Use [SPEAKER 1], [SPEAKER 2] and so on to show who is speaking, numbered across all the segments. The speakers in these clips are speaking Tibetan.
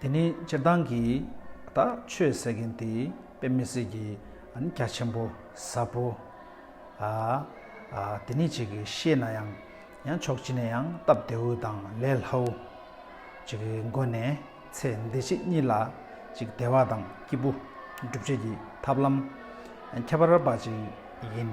[SPEAKER 1] དེ་ནི་སྤྱིར་བཏང་གི་ད་ཆོས་ཟེར་མཁན་དེ་དཔེ་མི་སྲིད་ཀྱི་ཨ་ནི་རྒྱ་ཆེན་པོ་ཟབ་པོ་ཨ་དེ་ནི་ཅིག་གིས་ཤེས་ན་ཡང་ཡང་ཆོག་ཅི་ནས་ཡང་སྟབས་བདེའུ་དང་ལས་སླའུ་ཅིག་གི་མགོ་ནས་ཚེ་འདི་ཕྱི་གཉིས་ལ་ཅིག་བདེ་བ་དང་སྐྱིད་པོ་སྒྲུབ་བྱེད་ཀྱི་ཐབས་ལམ་ཁྱད་པར་བ་ཅིག་ཡིན།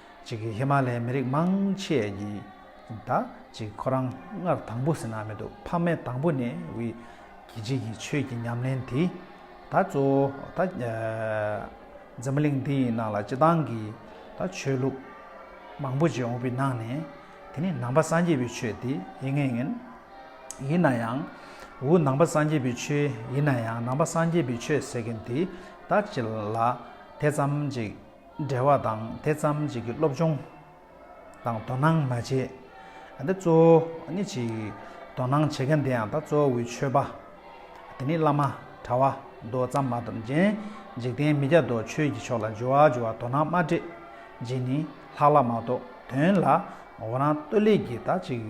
[SPEAKER 1] ཅིག་ཧི་མ་ལའི་མི་རིགས་མང་ཆེ་ཡི། ད་ཅིག་ཁོ་རང་སྔར་དང་པོ་ཟིན་ན་མི་འདུག་ཕ་མའི་དང་པོ་ནས་ཝི། གི་ཅིག་གི་ཆོས་ཀྱི་ཉམས་ལེན་དེ། ད་གཙོ་བོ་ད། འཛམ་གླིང་འདི་ཡི་ནང་ལ་སྤྱི་བཏང་གི། ད་ཆོས་ལུགས། མང་པོ་ཅིག་འོང་པའི་ནང་ནས། དེ་ནི་ནང་པ་སངས་རྒྱས་པའི་ཆོས་དེ་ཡིན་ངེས་ཡིན། ཡིན་ན་ཡང། འུ་ནང་པ་སངས་རྒྱས་པའི་ཆོས་ཡིན་ན་ཡང་ནང་པ་སངས་རྒྱས་པའི་ཆོས་ཟེར་མཁན་དེ་ད་ཅིག་ལ་དེ་ཙམ་ཅིག། འབྲེལ་བ་དང་དེ་ཙམ་གཅིག་གི་སློབ་སྦྱོང་དང་དོ་སྣང་མ་བྱས། འདི་གཙོ་བོ་ནི་གཅིག་དོ་སྣང་བྱེད་མཁན་དེ་ཡང་དག་གཙོ་བོའི་ཆོས་པ། དེ་ནི་བླ་མ་གྲྭ་བ་མདོ་ཙམ་མ་གཏོགས་གཞན་འཇིག་རྟེན་མི་བརྒྱ་སྟོང་ཆོས་ཀྱི་ཕྱོགས་ལ་འཇུ་བ་འཇུ་བ་དོ་སྣང་མ་སྤྲད་རྗེས་ནི་ལྷག་ལྷག་མ་གཏོགས་དོན་ལ་འོ་རང་སྟོད་ལས་ཀྱི་དག་ཅིག་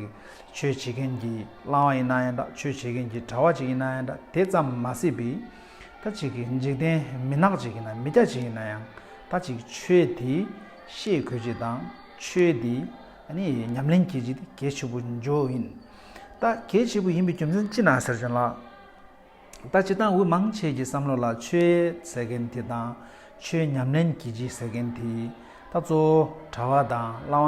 [SPEAKER 1] ཆོས་བྱེད་མཁན་གྱི་བླ་མ་ཡིན་ན་ཡང་དག་ཆོས་བྱེད་མཁན་གྱི་གྲྭ་བ་ཅིག་ཡིན་ན་ཡང་དག་དེ་ཙམ་མ་སྲིད་པའི། ད་ཅིག་གིས་འཇིག་རྟེན་མི་ནག་ཅིག་ཡིན་ན་མི་སྐྱ་ཅིག་ཡིན་ན་ཡང་ད་ཅིག་ཆོས་འདི་ཤེས་དགོས་ཀྱི་དང་ཆོས་འདི་ནི་ཉམས་ལེན་གྱིས་ཀྱི་གལ་ཆེ་པོ་འཇོག་ཡིན། ད་གལ་ཆེ་པོ་ཡིན་པའི་རྒྱུ་མཚན་ཅི་ན་ཟེར་བྱུང་ལ། ད་སྤྱི་དང་འུ་མང་ཆེས་ཀྱི་བསམ་བློ་ལ་ཆོས་ཟེར་མཁན་དེ་དང་ཆོས་ཉམས་ལེན་གྱིས་ཀྱི་ཟེར་མཁན་དེ་ད་གཙོ་བོ་གྲྭ་བ་དང་བླ་མ་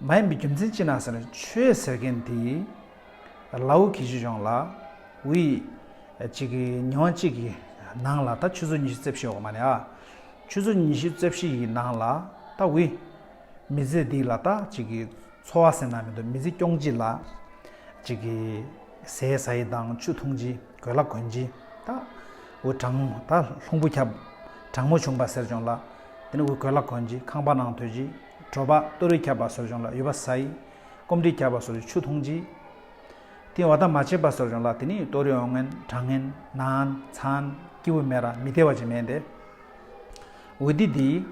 [SPEAKER 1] མ་ཡིན་པའི་རྒྱུ་མཚན་ཅི་ན་ཟེར་ཆོས་ཟེར་མཁན་དེ་ཡིས་ལ་འུ་གེ་ཞིག་ཡོང་ལ་འུ་ཡིས་གཅིག་གི་ཉིན་བ་གཅིག་གི་ནང་ལ་ད་ཆུ་ཚོད་ཉི་ཤུ་རྩེབ་ཤེས་འོག་མ་ནས་ཨ་ཆུ་ཚོད་ཉི་ཤུ་རྩེབ་ཤེས་ཡི་ནང་ལ་ད་འུ་མི་ཚེ་འདི་ལ་ད་གཅིག་གི་འཚོ་བ་ཟེར་ན་མི་འདུག་མི་ཚེ་སྐྱོང་གཅིག་ལ་གཅིག་གི་ཟས་ཟ་ཡི་དང་ཆུ་འཐུང་གཅིག་གོས་ལ་གོན་གཅིག་ད་འུ་གྲང་ད་ལྷུང་བུ་ཁྱབ་གྲང་མོ་བྱུང་པ་ཟེར་བྱུང་ལ་དེ་ནས་འུ་གོས་ལ་གོན་གཅིག་ཁང་པ་ནང་དོད་གཅིག། བྲོ་བ་ཏོ་རུས་ཁྱབ་པ་སོར་བྱུང་ལ་ཡུ་བ་ཟ་ཡི། སྐོམ་དྲི་ཁྱབ་པ་སོར་ཆུ་འཐུང་བྱི། སྟེང་བ་དང་མ་བྱེད་པ་སོར་བྱུང་ལ་དེ་ནི་ཏོ་རུས་འོ་ངན་གྲང་ངན་ནང་ཚང་སྐྱི་བུ་མེ་ར་མི་བདེ་བ་ཅིག་མེད་དེ། འོ་འདི་འདི།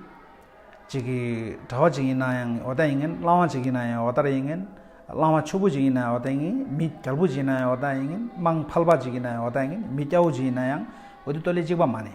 [SPEAKER 1] ཅིག་གི། དྲ་བ་ཅིག་ཡིན་ན་ཡང་འོ་ད་ཡིན་ངན་གླང་བ་ཅིག་ཡིན་ན་ཡང་འོ་དར་ཡིན་ངན། གླང་བ་ཕྱུག་པོ་ཅིག་ཡིན་ན་ཡང་འོ་ད་ཡིན་ངན་མི་རྒྱལ་པོ་ཅིག་ཡིན་ན་ཡང་འོ་ད་ཡིན་ངན་དམངས་ཕལ་པ་ཅིག་ཡིན་ན་ཡང་འོ་ད་ཡིན་ངན་མི་སྐྱ་བོ་ཅིག་ཡིན་ན་ཡང་འོ་འདི་ཏོ་ལེ་ཅིག་པ་མ་ནི།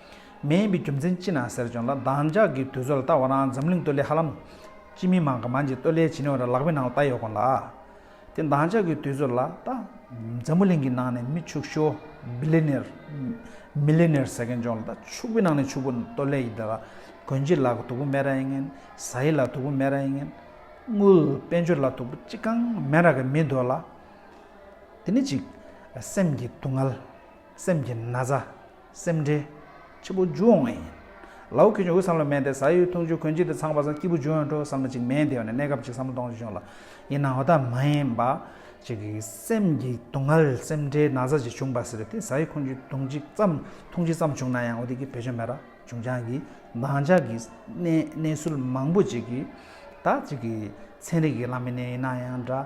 [SPEAKER 1] མེད་ཡིན་པའི་རྒྱུ་མཚན་ཅི་ན་ཟེར་བྱུང་ལ་བདག་ཅག་གིས་དུས་ཚོད་ལ་བལྟ་བ་ན་འཛམ་གླིང་སྟོད་ལས་ཧ་ལམ། སྤྱི་མི་མང་གི་མང་གཅིག་སྟོད་ལས་བྱེད་ནུས་བ་ར་ལག་པའི་ནང་ལ་བཏགས་ཡོད་དགོངས་ལ། དེ་བདག་ཅག་གིས་དུས་ཚོད་ལ་བལྟ། འཛམ་བུ་གླིང་གི་ནང་ནས་མི་ཕྱུགས་ཤོ། Billionaire། Millionaire། ཟེར་མཁན་བྱུང་ལ་ད་ཕྱུགས་པའི་ནང་ནས་ཕྱུགས་པོ་སྟོད་ལས་ཡིན་དགོས་ལ། དགོན་སྤྱི་ལ་དུག་པོ་མེད་ར་ཡིན་ངན། བཟའ་ཡི་ལ་དུག་པོ་མེད་ར་ཡིན་ངན། དངུལ། དཔལ་འབྱོར་ལ་དུག་པོ་ཅི་གང་མེད་ར་གི་མི་འདོད་ལ། དེ་ནི་གཅིག། སེམས་ཀྱི་སྡུག་བསྔལ། སེམས་ཀྱི་ན་ཚ། སེམས་ཁྲལ། འཆི་འཕོ་འཇུག་འོང་ངེས་ཡིན། ལའོ་ཁེ་ཆུང་འུ་བསམ་ལ་མེད་དེ་ཟ་ཡུལ་འཐུང་ཆུ་གོན་གཅིག་དེ་ཚང་བ་ཟ་སྐྱིད་པོ་འཇུག་ཡོང་འགྲོ་བསམ་ལ་ཅིག་མེད་དེ་ཡོང་ནས་གནས་སྐབས་ཅིག་བསམ་བློ་གཏོང་རྒྱུ་བྱུང་ལ། ཡིན་ནའོ་ད་མ་ཡིན་པ། ཅིག་གིས་སེམས་ཀྱི་སྡུག་བསྔལ་སེམས་ཁྲལ་ན་ཚ་ཅིག་བྱུང་བ་ཟེར་དེ་ཟ་ཡུལ་ཁོན་ཆུ་དུང་གཅིག་ཙམ་འཐུང་གཅིག་ཙམ་བྱུང་ན་ཡང་འོ་དེ་གི་བེད་སྤྱོད་མེད་ར་བྱུང་ཆང་གིས་འདང་ཆགས་ཀྱི་གནས་གནས་ཚུལ་མང་པོ་ཅིག་གིས་ད་ཅིག་གིས་ཚན་རིག་གི་བླ་མི་ནས་ཡིན་ན་ཡང་འདྲ།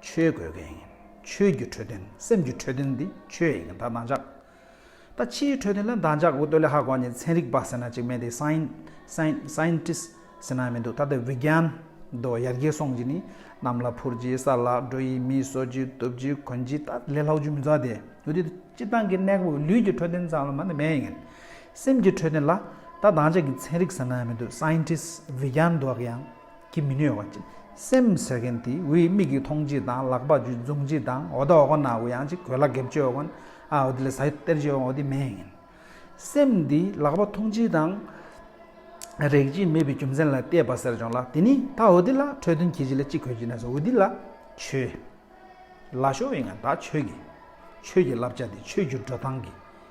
[SPEAKER 1] ཆོས་དགོས་མཁན་ཡིན། ཆོས་ཀྱི་འཕྲོད་བསྟེན་སེམས་ཀྱི་འཕྲོད་བསྟེན་འདི་ཆོས་ཡིན་གྱི་ད་འདང་འཇགས། ད་ཕྱིའི་འཕྲོད་བསྟེན་ལ་འདང་འཇགས་འུ་ཏོ་ལེ་ཧ་གོ་ཉིན་ཚན་རིག་པ་ཟེར་ན་ཅིག་མེད་དེ་སཱིན། Scientist། ཟེར་ན་མི་འདུག་ད་ལྟ་བི་གྱན། རྡོ་ཡར་རྒྱས་སོང་གྱི་ནི་གནམ་ལ་འཕུར་གྱི་ས་ལ་འགྲོ་ཡི་མི་གསོ་གྱི་གཏུབ་གྱི་གོན་གྱི་ད་ལས་ལྷག་རྒྱུ་མི་འཛག་དེ་འུ་དེ་སྤྱི་བཏང་གི་གནས་སྐབས་ལུས་ཀྱི་འཕྲོད་བསྟེན་ཙམ་ལ་མ་ནི་མེད་ཡིན། སེམས་ཀྱི་འཕྲོད་བསྟེན་ལ་ད་འདང་འཇགས་ཀྱི་ཚན་རིག་ཟེར་ན་མི་འདུག Scientist བི་གྱན་འདུག་ཡང། གིས་མི་གནོད་བ། སེམས་ཟད་མཁན་དེས་འུའི་མིག་གིས་མཐོང་བྱེད་དང་ལག་པ་འཇུ་བཟུང་བྱེད་དང་འོ་ད་འོ་གོ་ན་འུ་ཡང་ཅིག་གོས་ལ་འགེབ་བྱེད་འོ་གོ་ན་འུ་དེ་ལས་ཟ་སྟེར་བྱེད་འོ་དེ་མེད་ཡིན། སེམས་འདིས་ལག་པ་མཐོང་བྱེད་དང། རེག་བྱེད་མེད་པའི་རྒྱུ་མཚན་ལ་བལྟས་པ་ཟེར་བྱུང་ལ་དེ་ནི་ད་འུ་དེ་ལ་འཕྲོས་དོན་གྱིས་བྱེད་ལ་ཅིག་གོས་བྱེད་ན་ཟ་འུ་དེ་ལ་ཆོས་ལ་ཤོར་བའི་ངང་ད་ཆོས་ཀྱི། ཆོས་ཀྱི་བསླབ་བྱ་དེ་ཆོས་ཀྱི་འགྲོ་སྟངས་ཀྱི།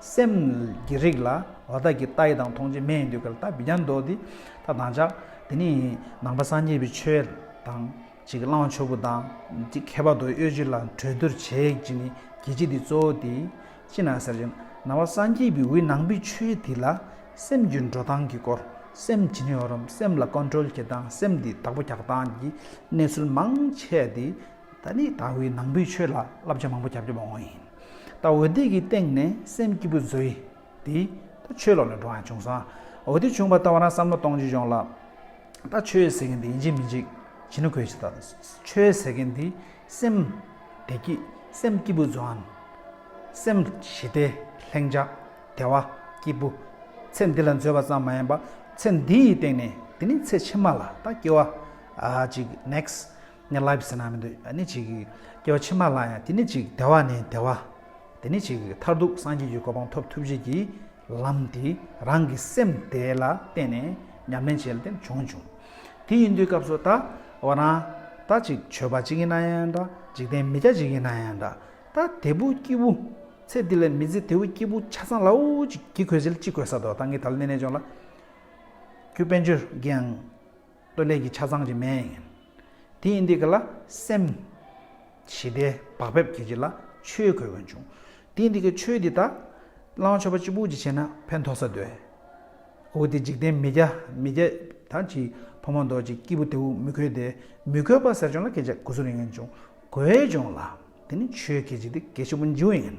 [SPEAKER 1] སེམས་ཀྱི་རིགས་ལ་བ་ད་གི་ཏཱི་དང་མཐོང་བྱེད་མེ་ཡི་འདུལ་ཁ་ལ་ཏཱི་བི་རྱང་འདོད་དེ་ད་དང་བྱ། དེ་ནི་ནང་པ་སངས་རྒྱས་པའི་ཆོས་དང། ཅིག་གི་བླང་བ་ཆོས་སྐུ་དང། ཅིག་ཁྱད་པར་དུ་གཡོ་བྱེད་ལ་གྲོས་བསྡུར་བྱེད་ཅིག་ནི་གྱི་ཅིག་དེ་གཙོ་བོ་དེ། ཅི་ན་ཟེར་བྱས་ན་ནང་བ་སངས་རྒྱས་པའི་འི་ནང་པའི་ཆོས་དེ་ལ་སེམས་ཀྱི་འགྲོ་སྟངས་ཀྱི་སྐོར་སེམས་ཇི་ནས་ཡོང་རུང་སེམས་ལ་ཀོནཏྲོལ་བྱེད་སྟངས་སེམས་དེ་དག་པོ་རྒྱག་སྟངས་ཀྱི་གནས་ཚུལ་མང་ཆེ་དེ་ད་ནི་ད་འི་ནང་པའི་ཆོས་ལ་བསླབ་བྱ་མང་པོ་རྒྱབ་རྒྱབ་འོང་ཡིན། ད་འོད་དེ་གི་སྟེང་ནས་སེམས་སྐྱིད་པོ་བཟོ་ཡི། དེ། ད་ཆོས་ལོག་ནས་འགྲོ་འང་བྱུང་སང། འོད་དེ་བྱུང་པ་ད་བ་རང་བསམ་བློ་གཏོང་རྒྱུ་འབྱུང་ལགས། ད་ཆོས་ཟེར་མཁན་དེ་འཇིག་མི་འཇིག། བྱིས་ན་གོས་ཆེ་ད། ཆོས་ཟེར་མཁན་དེ། སེམས། བདེ་སྐྱིད། སེམས་སྐྱིད་པོ་བཟོ་འང། སེམས། ཞི་བདེ། ལྷིང་འཇགས། བདེ་བ། སྐྱིད་པོ། ཚེ་འདི་ལ་འཛོལ་བ་ཙམ་མ་ཡིན་པ། ཚེ་འདི་ཡི་སྟེང་ནས། དེ་ནི་ཚེ་ཕྱི་མ་ལ་ད་སྐྱེ་བ། ཨ། ཅིག next། ནས་ལབ་ཟེར་ན་མི་འདོད་ད་ནི་ཅིག། སྐྱེ་བ་ཕྱི་མ་ལ་ཡང་དེ་ནི་ཅིག་བདེ་བ་ནི་བདེ་བ། དེ་ནི་ཅིག་མཐར་ཐུག་སངས་རྒྱས་ཀྱི་གོ་འཕང་ཐོབ་ཐུབ་བྱེད་ཀྱི་ལམ་དེ་རང་གི་སེམས་དེ་ལ་བརྟེན་ནས་ཉམས་ལེན་བྱེད་ལ་དེ་བྱུང་བྱུང། དེ་ཡིན་དུས་སྐབས་སུ་ད་བ་ན་ད་ཅིག་ཆོས་པ་ཅིག་ཡིན་ན་ཡང་འདྲ་འཇིག་རྟེན་མི་སྐྱ་ཅིག་ཡིན་ན་ཡང་འདྲ་ད་དེ་བུ་སྐྱེས་བུ། ཚེ་འདི་ལས་མི་ཚེ་དེ་བུ་སྐྱེས་བུ་ཆ་ཚང་ལའོ་ཅིག་གི་གོས་ཟེར་ལ་ཅིག་གོས་ས་དོ་ད་ངས་ད་ལ་གནས་གནས་ཅོག་ལ། ཁྱོད་དཔལ་འབྱོར་འགའ་ཡང། སྟོད་ལས་ཀྱི་ཆ་ཚང་གཅིག་མན་ཡིན། དེ་ཡིན་འདི་ག་ལ་སེམས། ཞི་བདེ་བག་ཕེབས་ཀྱི་རྗེས་ལ་ཆོས་གོས་འོན་བྱུང། དེ་ཡིན་འདི་ག་ཆོས་འདི་དག། བླང་བྱ་བ་གཅིག་པུ་གཅིག་བྱས་ན་ཕན་ཐོགས་ས་འདོད། འོ་དེ་འཇིག་རྟེན་མི་རྒྱ་མི་རྒྱ། དང་གཅིག་ཕོ་མོ་མདོག་གཅིག་སྐྱིད་པོ་དེའུ་མི་གོས་ཏེ་མི་གོས་པ་ཟེར་བྱུང་ལ་སྐད་ཆ་གོ་ཟུར་ཡིན་བྱུང་གོས་བྱུང་ལ་དེ་ནི་ཆོས་གོས་གཅིག་དེ་གལ་ཆེན་པོ་འཇིག་འོས་ཡིན།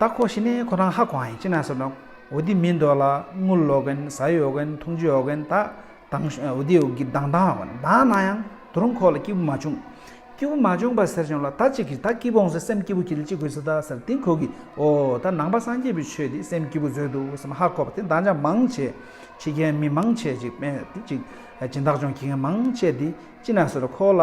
[SPEAKER 1] རྟགས་ཁོ་ཤི་ནས་ཁོ་རང་ཧ་གོ་ཨང་ཡིན་ཅི་ན་སོ་ནོ། འོ་དི་མིན་འདོག་ལ་དངུལ་ལོག་གིན་ཟ་ཡོ་གིན་འཐུང་ཆུ་ཡོག་གིན་དག་དང་འོ་དི་འོ་གི་དང་དང་ཡོག་གིན་དག་ན་ཡང་དུ་རུང་ཁོ་ལ་སྐྱིད་པོ་མ་བྱུང། སྐྱིད་པོ་མ་བྱུང་པ་ཟེར་བྱུང་ལ་ད་ཅིག་གིས་ད་སྐྱིད་པོ་འོང་ཟེར་སེམས་སྐྱིད་པོ་ཁྱི་ལ་ཅི་དགོས་ཟེར་ད་ཟེར་དེང་ཁོ་གིས་འོ་ད་ནང་པ་སངས་རྒྱས་པའི་ཆོས་འདི་སེམས་སྐྱིད་པོ་བཟོས་འདུག་སེམས་ཧ་གོ་བ་དེ་འདང་ཅང་མང་བྱས་ཁྱི་རྒན་མི་མང་ཆེ་ཅིག་དཔེ་དེ་ཅིག་སྦྱིན་བདག་ཅོང་ཁྱི་རྒན་མང་བྱས་དེ་ཅི་ན་སོ་ལ་ཁོ་ལ།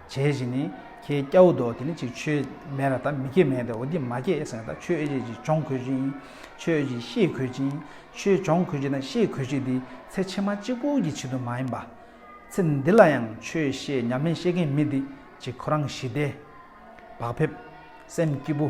[SPEAKER 1] བྱས་བཞིན་ནི། ཁྱེད་སྐྱ་བོ་འདུག་དེ་ནི་ཅིག་ཆོས་མེད་ལ་ད་མི་སྐྱེ་མེད་དེ་འོ་དེ་མ་སྐྱེས་ཟེར་ན་ད་ཆོས་ཅིག་ཅིག་སྦྱོང་གོས་ཅིག་ཆོས་ཅིག་ཤེས་གོས་ཅིག་ཆོས་སྦྱོང་གོས་ཅིག་དང་ཤེས་གོས་ཅིག་འདི་ཚེ་ཕྱི་མ་གཅིག་པུ་གྱི་ཆེད་དུ་མ་ཡིན་པ། ཚེ་འདི་ལ་ཡང་ཆོས་ཤེས་ཉམས་ལེན་ཤེས་མཁན་མི་འདི་ཅིག་ཁོ་རང་ཞི་བདེ་བག་ཕེབས་སེམས་སྐྱིད་པོ།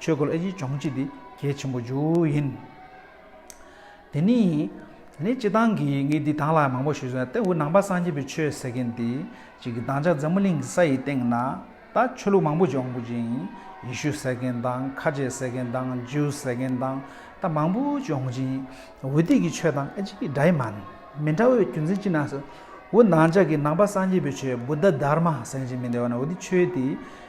[SPEAKER 1] ཆོས་སྐུ་ལ་ཡིད་འབྱུང་བྱེད་དེ་གལ་ཆེན་པོ་རྒྱུ་ཡིན། དེ་ནི་ནི་སྤྱི་བཏང་གི་ངས་འདི་དང་ལ་མང་པོ་ཞིག་བཟོས་ན་ཏེ་འུ་ནང་པ་སངས་རྒྱས་པའི་ཆོས་ཟེར་མཁན་དེ་གཅིག་གིས་བདག་ཅག་འཛམ་བུ་གླིང་གི་ས་ཡི་སྟེང་ན་ད་ཆོས་ལུགས་མང་པོ་སྦྱོང་དགོས་ཅིང་ཡེ་ཤུ་ཟེར་མཁན་དང་ཁ་ཆེ་ཟེར་མཁན་དང་ཇིའུ་ཟེར་མཁན་དང་ད་མང་པོ་སྦྱོང་ཅིང་འུ་དེ་གི་ཆོས་དང་ཨེ་ཅིག་གི་འདྲ་ཡི་མ་མི་འདྲ་བའི་རྒྱུ་མཚན་ཅི་ན་ཟེར་འུ་ནང་ཅག་གི་ནང་པ་སངས་རྒྱས་པའི་ཆོས་བུ་ད་དར་མ་ཟེར་གཅིག་མི་འདྲ་བ་ན་འུ་དེ་ཆོས་དེ།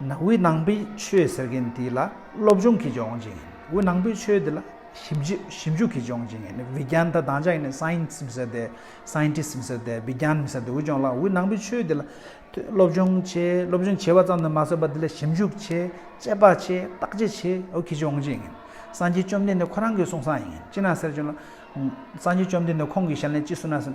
[SPEAKER 1] ན་དབུས་ནང་པའི་ཆོས་ཟེར་མཁན་དེ་ལ་སློབ་སྦྱོང་གིས་ཀྱང་ཡོང་བྱེད་ཡིན་དབུས་ནང་པའི་ཆོས་དེ་ལ་ཞིབ་འཇུག་ཞིབ་འཇུག་གིས་ཀྱང་ཡོང་བྱེད་ཡིན Vigyan ད་དང་ཅག་ཡིན Science མི་ཟེར་ཏེ Scientist མི་ཟེར་ཏེ Vigyan མི་ཟེར་ཏེ་འུ་ཅོང་ལགས་དབུས་ནང་པའི་ཆོས་དེ་ལ་སློབ་སྦྱོང་བྱེད་སློབ་སྦྱོང་བྱེད་པ་ཙམ་དུ་མ་ཟད་པ་དེ་ལ་ཞིབ་འཇུག་བྱེད་དཔྱད་པ་བྱེད་བརྟག་དཔྱད་བྱེད་འོ་གིས་ཀྱང་ཡོང་བྱེད་ཡིན་སངས་རྒྱས་བཅོམ་ལྡན་འདས་ཁོ་རང་གིས་གསུངས་སང་ཡིན་ཅི་ན་ཟེར་ཅོང་ལགས་སངས་རྒྱས་བཅོམ་ལྡན་འདས་ཁོང་གིས་ཞལ་ནས་ཅི་གསུངས་ན་ཟེར།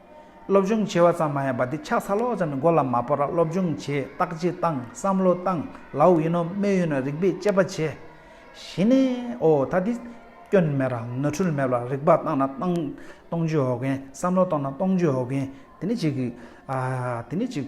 [SPEAKER 1] སློབ་སྦྱོང་བྱས་བ་ཙམ་མ་ཡིན་པ་འདི་ཆགས་ཚ་ལོག་ཙམ་གྱི་མགོ་ལ་མ་སྤོ་ར་སློབ་སྦྱོང་བྱས་བརྟག་དཔྱད་བཏང་བསམ་བློ་བཏང་ལའོ་ཡིན་ནོ་སྨད་ཡོད་ན་རིག་པས་དཔྱད་པ་བྱས་གཞི་ནས་ཨོ་ད་འདི་སྐྱོན་མེད་ར་ནོར་འཁྲུལ་མེད་ལ་རིག་པ་བཏང་ན་བཏང་གཏོང་བྱེད་འོ་གན་བསམ་བློ་བཏང་ན་གཏོང་བྱེད་འོ་གན་དེ་ནི་གཅིག་གི་ཨ་དེ་ནི་གཅིག།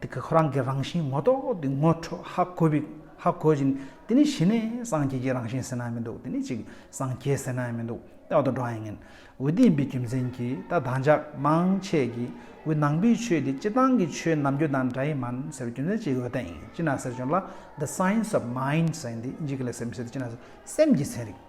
[SPEAKER 1] དེ་ག་ཁོ་རང་གི་རང་བཞིན་ངོ་ཐོག་ཏུ་ངོ་འཕྲོ་ཧ་གོ་བའི་ཧ་གོ་བཞིན་དེ་ནི་གཞི་ནས་སངས་རྒྱས་ཀྱི་རང་བཞིན་ཟེར་ན་མི་འདུག་དེ་ནི་གཅིག་སངས་རྒྱས་ཟེར་ན་མི་འདུག་རྟག་ཏུ་བགྲང་ཡས་ངན་འོད་ལྡན་པའི་རྒྱུ་མཚན་གྱིས་ད་བདག་ཅག་མང་ཆས་ཀྱིས་འོད་སྣང་པའི་ཆོས་དེ་སྤྱི་བཏང་གི་ཆོས་ནམ་རྒྱུན་དང་འདྲ་ཡི་མ་ཟེར་བའི་རྒྱུ་མཚན་གཅིག་འོད་དེ་ཨིན་ཅི་ན་ཟེར་བྱུང་ལ the science of mind ཟེར་འདི་འཇིག་གི་ལས་སེམས་ཟེར་དེ་ཅི་ན་ཟེར་སེམས་ཀྱི་ཚན་རིག།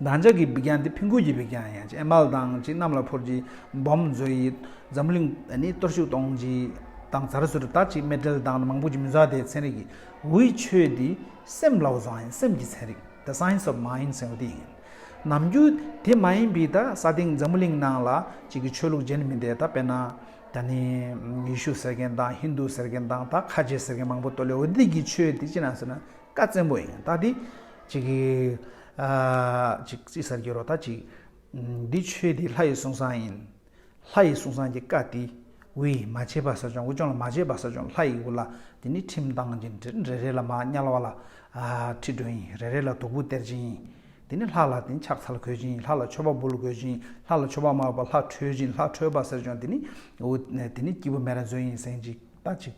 [SPEAKER 1] བདག་ཅག་གི་འབིགས་ཀྱང་འདི་ཕུན་ཁུག་གི་འབིགས་ཀྱང་ཡན་ཅིག་ཨེ་མལ་དང་ཅིག་གནམ་ལ་འཕུར་གྱི་སྦོམ་མཛོད་ཡི། འཛམ་གླིང་ནི་གཏོར་བཤུགས་གཏོང་གི་དང་ཚར་གསུར་བཏགས་ཅིག་མེ་དྲེལ་དང་མང་པོ་གྱི་མི་མཛའ་དེ་ཚན་རིག་གི་འུའི་ཆོས་འདི་སེམས་ལ་བ་བཟང་ཡིན་སེམས་ཀྱི་ཚན་རིག the science of mind སེམས་དེ་ཡིན། ནམ་རྒྱུན་དེ་མ་ཡིན་པའི་ད་ས་སྟེང་འཛམ་གླིང་ནང་ལ་ཅིག་གི་ཆོས་ལུགས་གཞན་མི་འདེད་ད་དཔེར་ན་ད་ནི་ཡེ་ཤུ་ཟེར་མཁན་དང་ཧིན་དུ་ཟེར་མཁན་དང་ད་ཁ་ཆེ་ཟེར་མཁན་མང་པོ་ཏོ་ལེའོ་དིད་ཀྱི་ཆོས་དེ་ཅི་ན་ཟེར་ན་བཀའ་བཙན་པོ་ཡིན་ད་དེ། གཅིག་གཅིག་གསར་འགྱུར་རོ་ད་གཅིག། འདི་ཆོས་འདི་ལྷ་ཡི་གསུང་བཟང་ཡིན། ལྷ་ཡི་གསུང་བཟང་གྱི་བཀའ་འདི། འུ་ཡིས་མ་བྱས་པར་ས་སྦྱོང་འུ་སྦྱོང་ལ་མ་བྱས་པར་ས་སྦྱོང་ལྷ་ཡིས་འུ་ལ་འདི་ནི་ཁྲིམས་དང་རྗེ་འབྲེལ་རེ་རེ་ལ་མ་དམྱལ་བ་ལ་ཁྲི་སྒྲོན་ཡིན་རེ་རེ་ལ་དུག་པོ་སྟེར་སྦྱིན་ཡིན་འདི་ནི་ལྷ་ལ་དེ་ཕྱག་འཚལ་གོས་སྦྱིན་ཡིན་ལྷ་ལ་མཆོད་པ་འབུལ་གོས་སྦྱིན་ཡིན་ལྷ་ལ་མཆོད་པ་མ་འབུལ་བར་ལྷ་ཁྲོས་སྦྱིན་ལྷ་ཁྲོས་པར་ཟེར་སྦྱོང་འདི་ནི་འུ་འདི་ནི་སྐྱིད་པོ་མེད་ར་མཛོད་ཡིན་གཟན་ཅིག་ད་གཅིག།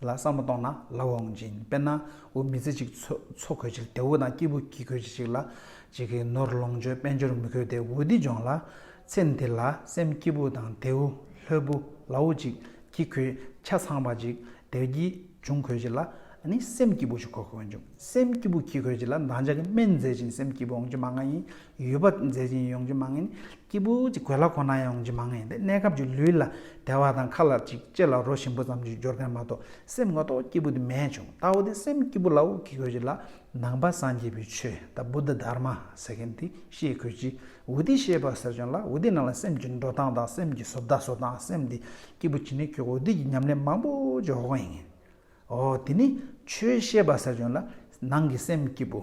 [SPEAKER 1] ལ་བསམ་བློ་གཏོང་ན་ལ་བ་འོང་ཅིང་དཔེར་ན་འུ་མི་ཚེ་གཅིག་འཚོ་གོལ་ཆིལ་ཏེ་འུ་དང་སྐྱིད་པོ་གྱིས་གོལ་གྱིས་ཅིག་ལ་ཅིག་གིས་ནོར་ལོངས་སྤྱོད་དཔལ་འབྱོར་མི་གོལ་ཏེ་འུ་འདི་སྦྱོང་ལ། ཚེ་འདི་ལ་སེམས་སྐྱིད་པོ་དང་དེ་འུ་ལྷོད་པོ་ལ་འུ་ཅིག་གྱིས་གོལ་ཆ་ཚང་བ་ཅིག་དེ་བར་གྱིས་འབྱུང་གོལ་ཅིག་ལ་ནི་སེམས་སྐྱིད་པོ་ཞིག་གོ་གོལ་འབྱུང་སེམས་སྐྱིད་པོ་གྱིས་གོལ་ཅིག་ལ་འདང་ཆ་གི་སྨན་མཛད་ཅིང་སེམས་སྐྱིད་པོ་འོང་ཅིག་མ་ང་ཡིན་ཡུལ་བ་མཛད་ཅིང་ཡོང་རྒྱུ་མ་ངེས། སྐྱེས་བུ་གཅིག་གོས་ལྭ་ཁོ་ན་ཡང་འོང་རྒྱུ་མ་ངེས་ཏེ་གནས་སྐབས་ཀྱི་ལུས་ལ་དལ་བ་དང་ཁ་ལ་ཅིག་ལྕེ་ལ་རོ་ཞིམ་པོ་ཙམ་གྱི་འབྱོར་མཁན་མ་གཏོགས་སེམས་ངོ་ཐོག་སྐྱེས་བུ་དུ་མས་བྱུང་རྟ་བོ་དེ་སེམས་སྐྱིད་པོ་ལ་འུག་གི་གོས་ཀྱི་ལ་ནང་པ་སངས་རྒྱས་པའི་ཆོས་དང་བུ་ད་དར་མ་ཟེར་མཁན་དེ་ཤེས་གོས་ཀྱི་འུ་དེ་ཤེས་པར་ཟེར་བྱུང་ལ་འུ་དེ་ནང་ལ་སེམས་ཀྱི་འགྲོ་སྟངས་དང་སེམས་ཀྱི་བཟོ་བདག་བཟོ་སྟངས་སེམས་དེ་སྐྱིད་པོ་བྱེད་ནི་ཁྱོད་འུ་དེ་ཀྱི་ཉམས་ལེན་མང་པོ་ཅི་འོག་ཡིན་ངེས་འོ་དེ་ནི་ཆོས་ཤེས་པར་ཟེར་བྱུང་ལ་ནང་གི་སེམས་སྐྱིད་པོ།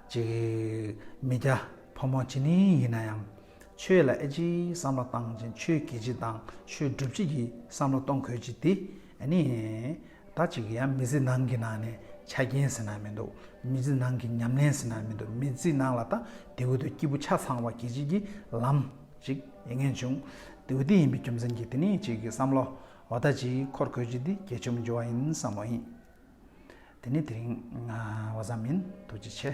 [SPEAKER 1] ཅིག། མི་སྐྱ་ཕོ་མོ་ཇི་ནས་ཡིན་ན་ཡང། ཆོས་ལ་ཨེ་ཅིའི་བསམ་བློ་བཏང་ཅིང་ཆོས་བགྱིད་ཅིག་དང་ཆོས་སྒྲུབ་ཅིག་གི་བསམ་བློ་གཏོང་དགོས་ཅིག་དེ་ནི། ད་ཅིག་ཡང་མི་ཚེ་ནང་གི་ནང་ནས་ཆ་རྐྱེན་ཟེར་ན་མི་འདུག་མི་ཚེ་ནང་གི་ཉམས་ལེན་ཟེར་ན་མི་འདུག་མི་ཚེ་ནང་ལ་ད་དེ་འོས་དུ་སྐྱིད་པོ་ཆ་ཚང་བ་བགྱིད་ཅིག་གི་ལམ་ཅིག་ཡིན་ངེས་བྱུང། དེ་འོས་དེ་ཡིན་པའི་རྒྱུ་མཚན་གྱིས་དེ་ནི་ཅིག་གི་བསམ་བློ་བ་ད་ཅིག་འཁོར་དགོས་ཅིག་དེ་དགེ་བཅུ་འབྱོར་བ་ཡིན་བསམ་བློ་ཡིན། དེ་ནི་དེ་རིང་བ་ཙམ་མིན་ཐུགས་རྗེ་ཆེ།